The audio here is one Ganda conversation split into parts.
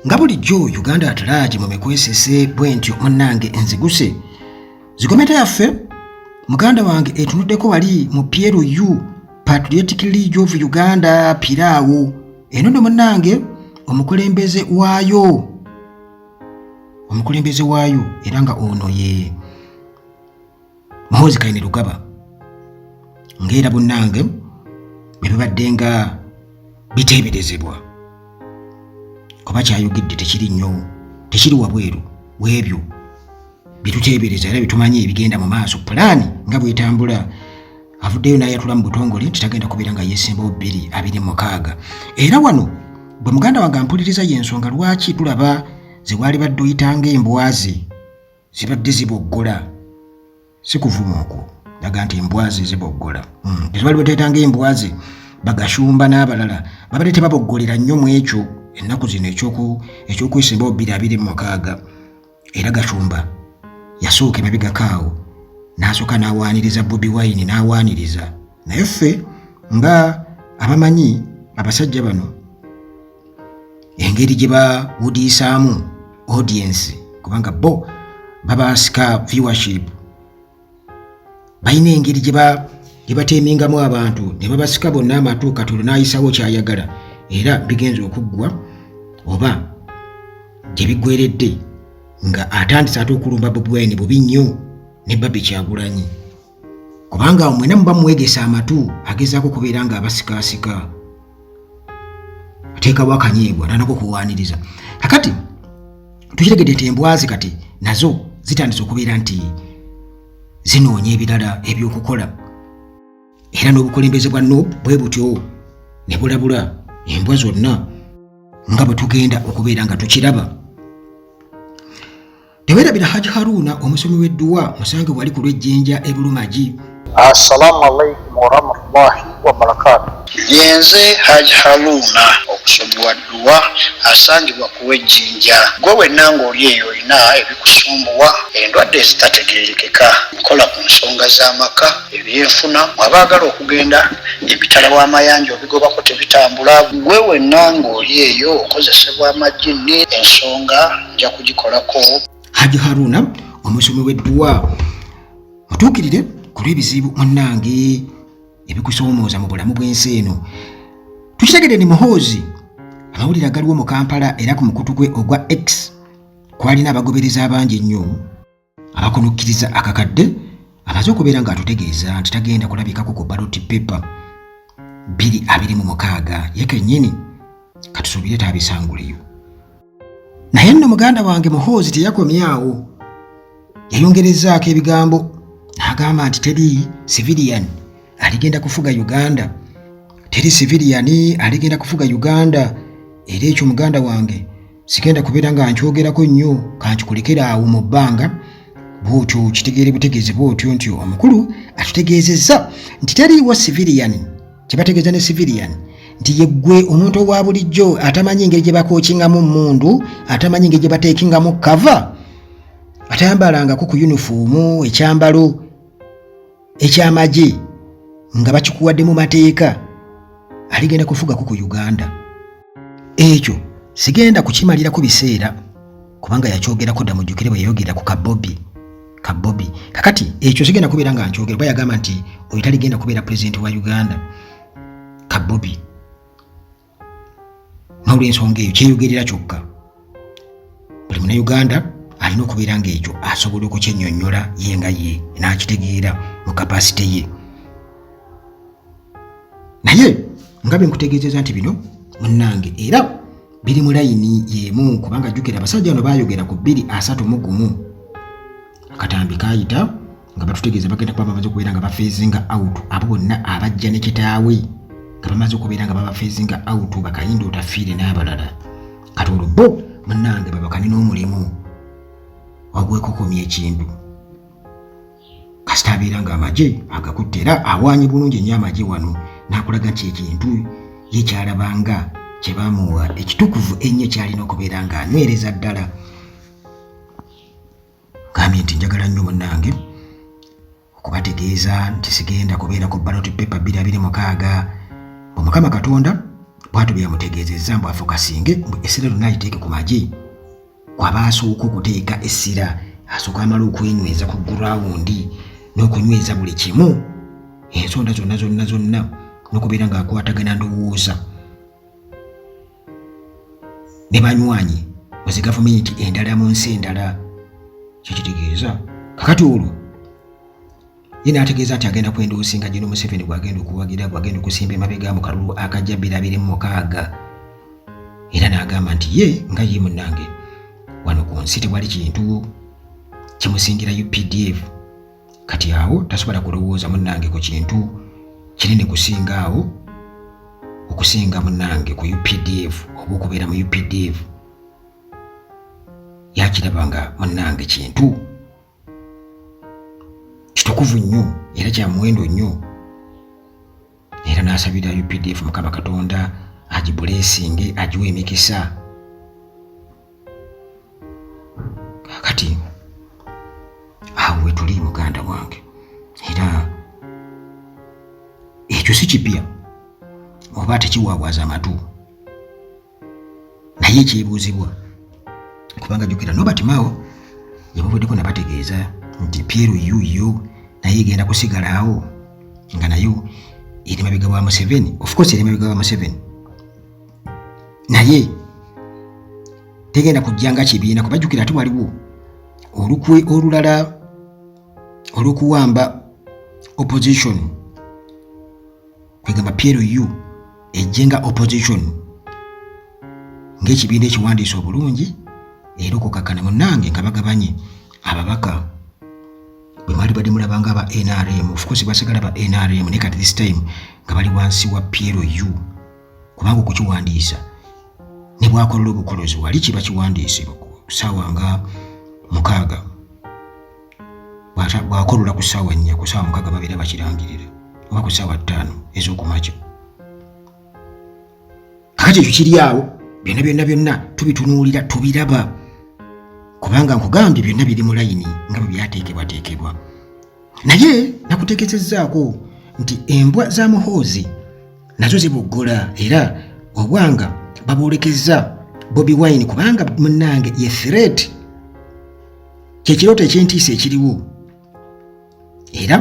nga bulijjo uganda atalaaje mu mikwesese bwentyo munnange enziguse zikometa yaffe muganda wange etunuddeko wali mu plu patriotic league of uganda piraawo eno no munnange omukulembeze waayo omukulembeze waayo era nga ono ye muhoozi kaine lugaba ngaera bunange bebibadde nga biteeberezebwa kuba kyayogedde tekiri nnyo tekiri wabweru webyo byetuteebereza era byetumanyi ebigenda mu maaso pulaani nga bwetambula avuddeyo nayatula mu butongole nti tagenda kubeera nga yesimbawo bbiri abiri mukaaga era wano bwe muganda wange ampuliriza y'ensonga lwaki tulaba ze waali badde oyitanga embwaze zibadde ziboggola si kuvuma okwo naga nti embwazi ziboggola hmm, tezibali bateetanga embwazi bagashumba n'abalala babadde tebaboggolera nnyo mu ekyo ennaku zino ekyokwesimbawo bbiri abiri mu mukaaga era gashumba yasooka emabigakaawo n'asooka n'awaaniriza bobi wine n'awaaniriza naye ffe nga abamanyi abasajja bano engeri gye bawudiisaamu audience kubanga bo babasika viewership balina engeri gye bateemingamu abantu ne babasika bonna amatu katonda n'ayisawo kyayagala era bigenza okuggwa oba gye biggweredde nga atandise ate okulumba bobi wine bubi nnyo ne babi kyagulanyi kubanga mwena muba mwegesa amatu agezaako kubeera nga abasikaasika ateekawo akanyiibwa nanako kuwaaniriza kakati tukitegedde nti embwazi kati nazo zitandise okubeera nti zinoonya ebirala ebyokukola era n'obukulembeze bwa nop bwe butyo ne bulabula embwa zonna nga bwe tugenda okubeera nga tukiraba tewerabira haji haruna omusomi w'edduwa musange wali ku lw'ejjinja e bulumagi assalamu alaikum warahmatullahi wabarakatu yenze haji haruna omusomi wa dduwa asangibwa ku lw'ejjinja gwe wenna ng'oli eyo olina ebikusumbuwa endwadde ezitategeerekeka nkola ku nsonga z'amaka ebyenfuna mwabaagala okugenda ebitala w'amayanja obigobako tebitambula gwe wenna ng'oli eyo okozesebwa amajjinni ensonga nja kugikolako haji haruna omusomi w'edduwa mutuukirire ku lw'ebizibu munnange ebikusoomooza mu bulamu bw'ensi eno tukitegedde ni muhoozi amawulire agaliwo mu kampala era ku mukutu gwe ogwa x kwalina abagobereza abangi ennyo abakunukkiriza akakadde amaze okubeera ng'atutegeeza nti tagenda kulabikako ku baloti pepa bbiri abiri mu mukaaga ye kennyini katusuubire taabisanguleyo naye nno muganda wange muhoozi teyakomye awo yayongerezaako ebigambo n'agamba nti teri civilian aligenda kufuga uganda teri civilian aligenda kufuga uganda era ekyo muganda wange sigenda kubeera nga nkyogerako nnyo kankikulekera awo mu bbanga bwotyo kitegeere butegeezi bwotyo nti omukulu atutegeezezza nti teriiwo civilian kyebategeeza ne civilian nti yeggwe omuntu owa bulijjo atamanyi engeri gye bakookingamu mundu atamanyi engeri gye bateekingamu kava atayambalangako ku yunifoomu ekyambalo ekyamagye nga bakikuwadde mu mateeka aligenda kufugako ku uganda ekyo sigenda kukimalirako biseera kubanga yakyogerako dda mujjukire bwe yayogera ku kabobi kabobi kakati ekyo sigenda kubeera nga nkyogera kuba yagamba nti oyo taligenda kubeera pulezidenti wa uganda kabobi n'olwensonga eyo kyeyogerera kyokka buli munauganda alina okubeera ng'ekyo asobola okukyenyonyola ye nga ye n'akitegeera mu kapasite ye naye nga bwe nkutegeezeza nti bino munnange era biri mu layini y'emu kubanga jjukira abasajja bano baayogera ku bbiri asatu mu gumu akatambi kaayita nga batutegeeza bagenda kuba bamaze okubeera nga bafeezinga out abo bonna abajja ne kitaawe nga bamaze okubeera nga babafeezinga out bakayinda otafiire n'abalala kati olwo bo munange babakane n'omulimu wagwekokomya ekintu kasita abeera nga amagye agakutte era awaanyi bulungi ennyo amagye wano n'akulaga nti ekintu ye kyalabanga kye baamuwa ekitukuvu ennyo kyalina okubeera ng'anywereza ddala Gambye nti njagala nnyo munnange okubategeeza nti sigenda kubeerako ballot paper bbiri abiri mukaaga mbu mukama katonda bwatyo bye yamutegeezezza mbu afokasinge mbu essira lyonna aliteeke ku magye kwaba asooka okuteeka essira asooka amala okwenyweza ku gurawundi n'okunyweza buli kimu ensonda zonna zonna zonna n'okubeera ng'akwatagana ndowooza ne banywanyi mu zi gavumenti endala mu nsi endala kyekitegeeza kakati olwo ye n'ategeeza nti agenda kwendoosinga gino museveni gwagenda okuwagira gwagenda okusimba emabega mu kalulu akajja birabire mu mukaaga era n'agamba nti ye nga ye munnange wano ku nsi tewali kintu kimusingira updf kati awo tasobola kulowooza munnange ku kintu kinene kusinga awo okusinga munnange ku updf oba okubeera mu updf yakiraba nga munnange kintu kitukuvu nnyo era kya muwendo nnyo era n'asabira updf mukama katonda agibuleesinge agiwa emikisa kakati awo wetuli muganda wange era ekyo si kipya oba tekiwaawaaza amatu naye ekyebuuzibwa kubanga jukira nobert mao yabavuddeko nabategeeza nti piero yuyo naye egenda kusigalaawo nga nayo eri mabega wa museveni ofcourse eri mabega wa museveni naye tegenda kujja nga kibiina kuba jukira ate waliwo olukwe olulala olwokuwamba opposition kwegamba PLU ejje nga opposition ng'ekibiina ekiwandiisa obulungi era okukakkana munnange nga bagabanye ababaka bwe mwali badde mulaba nga aba nrm ofcourse basigala ba nrm naye kati this time nga bali wansi wa PLU kubanga okukiwandiisa ne bwakolola obukolozi wali kiba kiwandiise saawa nga mukaaga bwakolola ku ssaawa nnya ku ssaawa mukaga babeera bakirangirira oba ku ssaawa ttaano ez'okumakya kakati ekyo kiri awo byonna byonna byonna tubitunuulira tubiraba kubanga nkugambye byonna biri mu layini nga bwe byateekebwateekebwa naye nakutegezezaako nti embwa za muhoozi nazo zibuggola era obwanga babwolekezza bobi wine kubanga munange ye threat kyekirooto ekyentiisa ekiriwo era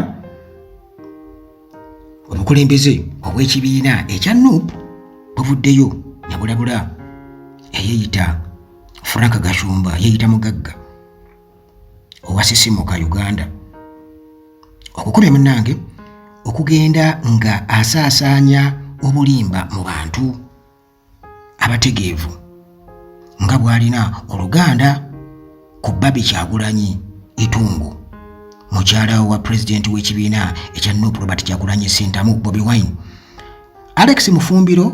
obukulembeze obw'ekibiina ekya nup buvuddeyo nebulabula eyeyita frank gashumba yeyita mugagga owasisimuka uganda okukubya munange okugenda nga asaasaanya obulimba mu bantu abategeevu nga bw'alina oluganda ku babi kyagulanyi itungu mukyala wa pulezidenti w'ekibiina ekya nup robert kyagulanyi sentamu bobi wine alex mufumbiro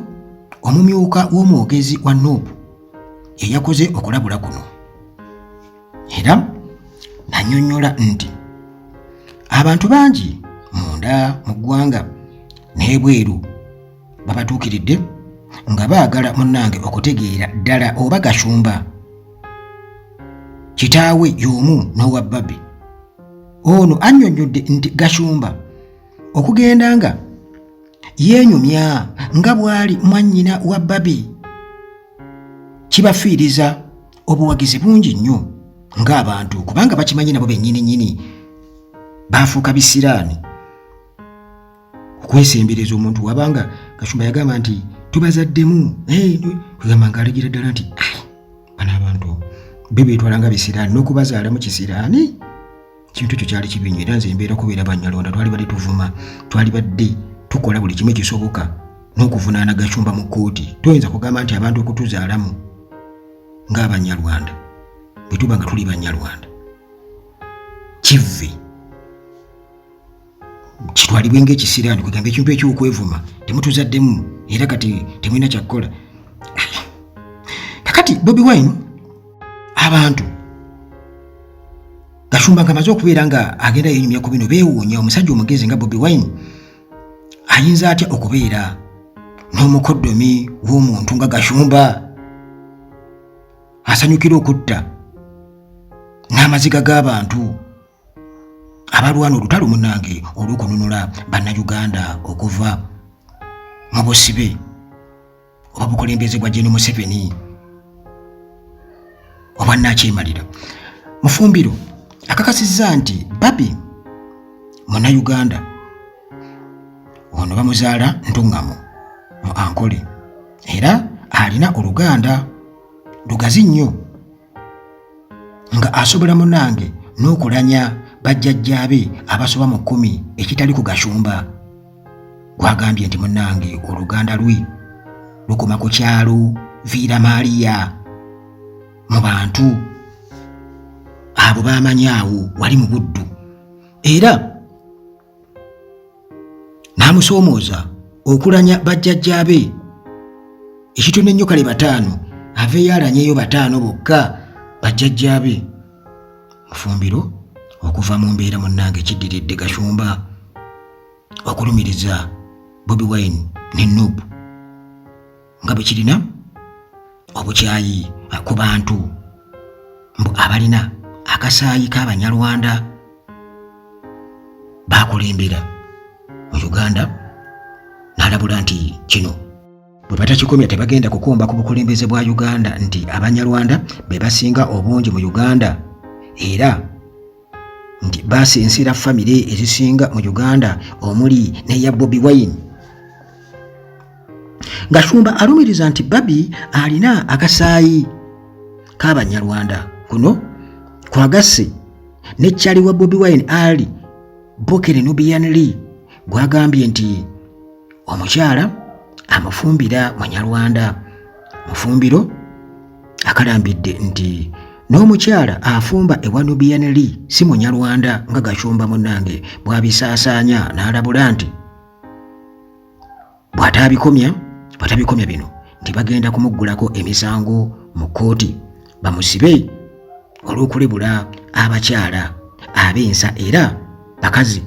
omumyuka w'omwogezi wa nup yeyakoze okulabula kuno era nanyonyola nti abantu bangi munda mu ggwanga n'ebweru babatuukiridde nga baagala munnange okutegeera ddala oba gashumba kitaawe y'omu n'owa babi ono annyonnyodde nti gashumba okugenda nga yeenyumya nga bw'ali mwannyina wa babi kibafiiriza obuwagizi bungi nnyo ng'abantu kubanga bakimanyi nabo bennyini nnyini baafuuka bisiraani okwesembereza omuntu wabanga kashumba yagamba nti tubazaddemu kugamba nga alagira ddala nti bano abantu be beetwala nga bisiraani n'okubazaala mu kisiraani kintu ekyo kyali kibi nnyo era nze embeera kubeera banyalonda twali badde tuvuma twali badde tukola buli kimu ekisoboka n'okuvunaana gashumba mu kkooti toyinza kugamba nti abantu okutuzaalamu ng'abanyarwanda bwe tuba nga tuli banyarwanda kivve kitwalibwe ng'ekisiraani kwegamba ekintu eky'okwevuma temutuzaddemu era kati temulina kyakukola kakati bobi wine abantu gashumba nga amaze okubeera nga agenda yenyumya ku bino beewuunya omusajja omugezi nga bobi wine ayinza atya okubeera n'omukoddomi w'omuntu nga gashumba asanyukira okutta n'amaziga g'abantu abalwana olutalo munange olw'okununula bannayuganda okuva mu busibe oba bukulembeze bwa jeno museveni oba nakyemalira mufumbiro akakasizza nti babi munayuganda ono bamuzaala ntuŋŋamu mu ankole era alina oluganda lugazi nnyo nga asobola munange n'okulanya bajjajjaabe abasoba mu kkumi ekitali ku gashumba gwagambye nti munange oluganda lwe lukoma ku kyalo viira maaliya mu bantu abo baamanyaawo wali mu buddu era n'amusoomooza okulanya bajjajjaabe ekitone nnyo kale bataano aveeyo alanyeyo bataano bokka bajjajjaabe mufumbiro okuva mu mbeera munnange kiddiridde gashumba okulumiriza bobi wine ne nubu nga bwe kirina obukyayi ku bantu mbu abalina akasaayi k'abanyarwanda baakulembera mu uganda n'alabula nti kino bwe batakikomya tebagenda kukomba ku bukulembeze bwa uganda nti abanyarwanda be basinga obungi mu uganda era nti basinsiira famire ezisinga mu uganda omuli neya bobi wine gashumba alumiriza nti babi alina akasaayi k'abanyarwanda kuno kwagasse ne kyali wa bobi wine ali bokere nubian lee gwagambye nti omukyala amufumbira munyarwanda mufumbiro akalambidde nti n'omukyala afumba ewa nubian lee si munyarwanda nga gacumba munange bwabisaasaanya n'alabula nti bw'ataabikomya bw'atabikomya bino nti bagenda kumuggulako emisango mu kkooti bamusibe olw'okulebula abakyala ab'ensa era bakazi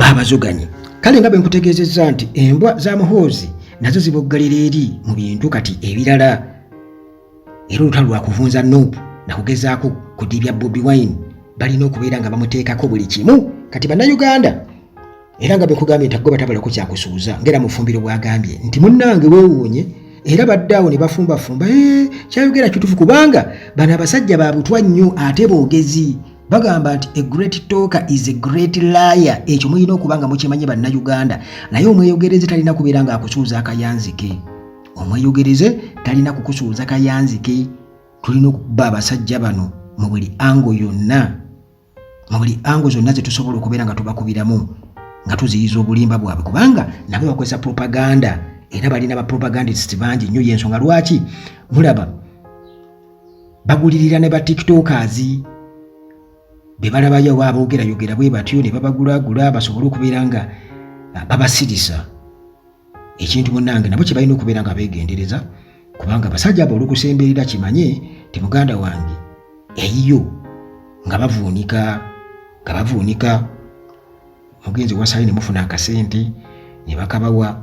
babazuganyi kale nga bwe nkutegeezezza nti embwa za muhoozi nazo ziboggalira eri mu bintu kati ebirala era olutalo lwakuvunza nup nakugezaako kudibya bobi wine balina okubeera nga bamuteekako buli kimu kati bannayuganda era nga bwekugambye nti agoba tabalako kyakusuuza ngaera mufumbiro bwagambye nti munnange weewuunye era badde awo ne bafumbafumba eh, kyayogera kitufu kubanga bano abasajja ba butwa nnyo ate boogezi bagamba nti a great talker is a great liar ekyo mulina okuba nga mukimanye bannayuganda naye omweyogereze talina kubeera nga akusuuza akayanzike omweyogereze talina kukusuuza kayanzike tulina okuba abasajja bano mu buli ango yonna mu buli ango zonna zetusobola okubeera nga tubakubiramu nga tuziyiza obulimba bwabwe kubanga nabo bakozesa propaganda era balina bapropagandist bangi nnyo yensonga lwaki mulaba bagulirira ne ba tiktokers bwe balabayo oba aboogerayogera bwe batyo ne babagulaagula basobole okubeera nga ah, babasirisa ekintu munnange nabo kye balina okubeera nga beegendereza kubanga abasajja abo olw'okusemberera kimanye ti muganda wange eyiyo nga bavuunika nga bavuunika mugenzi wasayi nemufuna akasente nebakabawa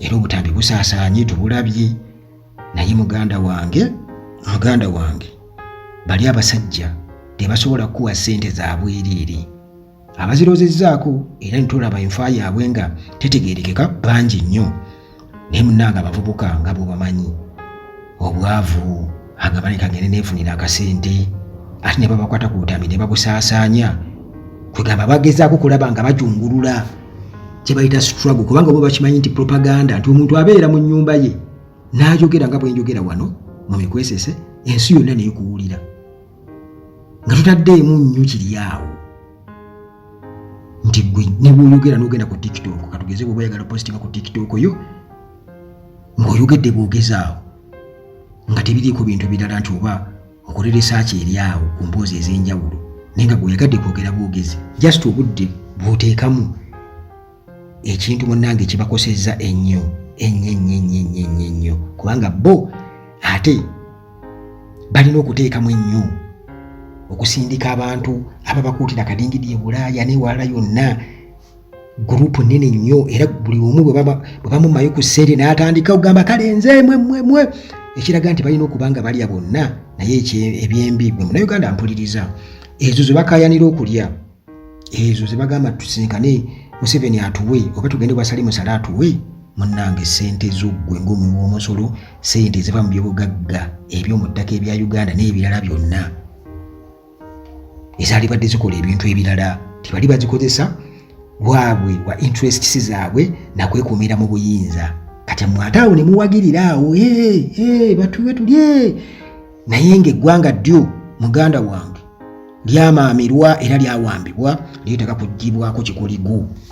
era obutambi busaasaanye tubulabye naye muganda wange muganda wange bali abasajja tebasobola kukuwa sente zabwereere abazirozezaako era nitolaba enfa yaabwe nga tetegerekeka bangi nnyo naye munnange abavubuka nga bwe bamanyi obwavu agamba leka ngende neefunira akasente ate ne babakwata ku butambi ne babusaasaanya kwegamba bagezaako kulaba nga bajungulula kye bayita struggle kubanga oba bakimanyi nti propaganda nti omuntu abeera mu nnyumba ye n'ayogera nga bwenjogera wano mu mikwesese ensi yonna neekuwulira nga tutaddeemu nnyo kiri awo nti gwe ne bwoyogera n'ogenda ku tiktok katugeze bwoba oyagala positinga ku tiktok yo ng'oyogedde bwogezaawo nga tebiriiko bintu birala nti oba okole research eri awo ku mboozi ez'enjawulo naye nga gweoyagadde kwogera bwogezi just obudde bwoteekamu ekintu munnange kibakosezza ennyo ennyo ennyo ennyo ennyo ennyo ennyo kubanga bo ate balina okuteekamu ennyo okusindika abantu ababakuutira kadingidi e bulaaya newalala yonna gurupu nene nnyo era buli omu bwe bamumayo ku ssente n'atandika okugamba kale nze mwemwemwe ekiraga nti balina okuba nga balya bonna naye ebyembi bwe munauganda mpuliriza ezo ze bakayanira okulya ezo zebagamba tusinkane museveni atuwe oba tugende wasali musale atuwe munange sente zoggwe ngaomuwi womusolo sente ziva mu byobugagga ebyomuttaka ebya uganda n'ebirala byonna ezalibadde zikola ebintu ebirala tibali bazikozesa bwabwe wa interests zaabwe nakwekuumira mu buyinza kati mwataawo ne muwagirira awo batuwe tulye naye ng'eggwanga ddyo muganda wange lyamaamirwa era lyawambibwa lyetaka kugibwako kikoligo